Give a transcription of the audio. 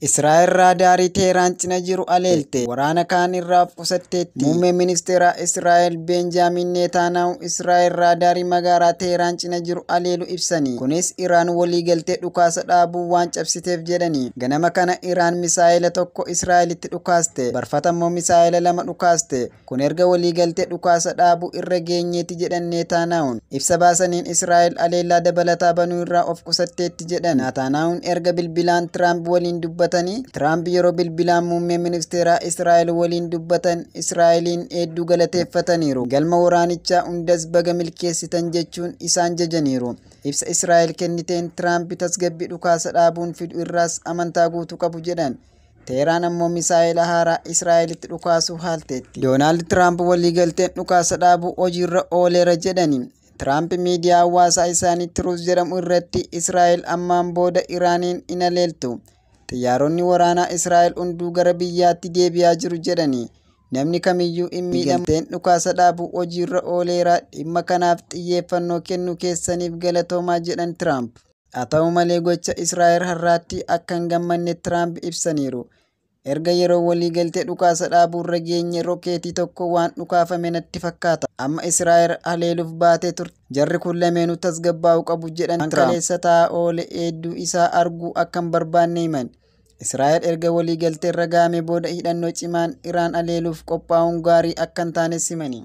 Israa'el raadaarii Teehraan cina jiru haleelte waraana kaan irraa of qusatteetti. Muummeen Ministeeraa Israa'el Beenjaamiin Neetaanaahu Israa'el raadaarii magaalaa Teehraan cina jiru haleelu ibsani. Kunis Iraan waliigaltee dhukaasa dhaabuu waan cabsiteef jedhani. Ganama kana Iraan misaa'ela tokko Israa'elitti dhukaaste. Barfata immoo misaa'ela lama dhukaaste. Kun erga waliigaltee dhukaasa dhaabuu irra geenyeeti jedhan Neetaanaahun. Ibsa baasaniin Israa'el aleellaa dabalataa banuu irraa of qusatteetti jedhan. Naataanaahun erga bilbilaan Tiraamp waliin dubbatanii, Tiraamp yeroo bilbilaan muummee ministeeraa Israa'el waliin dubbatan Israa'eliin heedduu galateeffataniiru. Galma waraanichaa hundas baga milkeessitan jechuun isaan jajaniiru. Ibsa Israa'el kenniteen Tiraamp tasgabbii dhukaasa dhaabuun fidu irraas amantaa guutuu qabu jedhan. Teeraan ammoo misaa'ela haaraa Israa'elitti dhukaasuu haalteetti. Doonaald Tiraamp waliigalteen dhukaasa dhaabuu hojiirra ooleera jedhani. Tiraamp miidiyaa hawaasaa isaanii Tiruus jedhamu irratti Israa'el ammaan booda Iraaniin hin haleeltu. Xiyyaaronni waraanaa Israa'el hunduu gara biyyaatti deebi'aa jiru jedhani. Namni kamiyyuu hin miidhamu. Waliigalteen dhukaasa dhaabuu hojiirra ooleera. Dhimma kanaaf xiyyeeffannoo kennuu keessaniif galatoomaa jedhan Tiraamp. Haa ta'u malee gocha Israa'el har'aatti akka hin gammanne Tiraamp ibsaniiru. Erga yeroo waliigaltee dhukaasa dhaabuurra geenye rokeetii tokko waan dhukaafame natti fakkaata. Amma Israa'el haleeluuf baatee turte. Jarri kun lameenuu tasgabbaa'uu qabu jedhan Tiraamp. Waan kaleessa ta'aa oole eedduu isaa arguu akka hin barbaanne himan. Israa'el erga waliigalteerra ga'amee booda hidhannoo cimaan Iraan haleeluuf qophaa'uun gaarii akka hin taanes himani.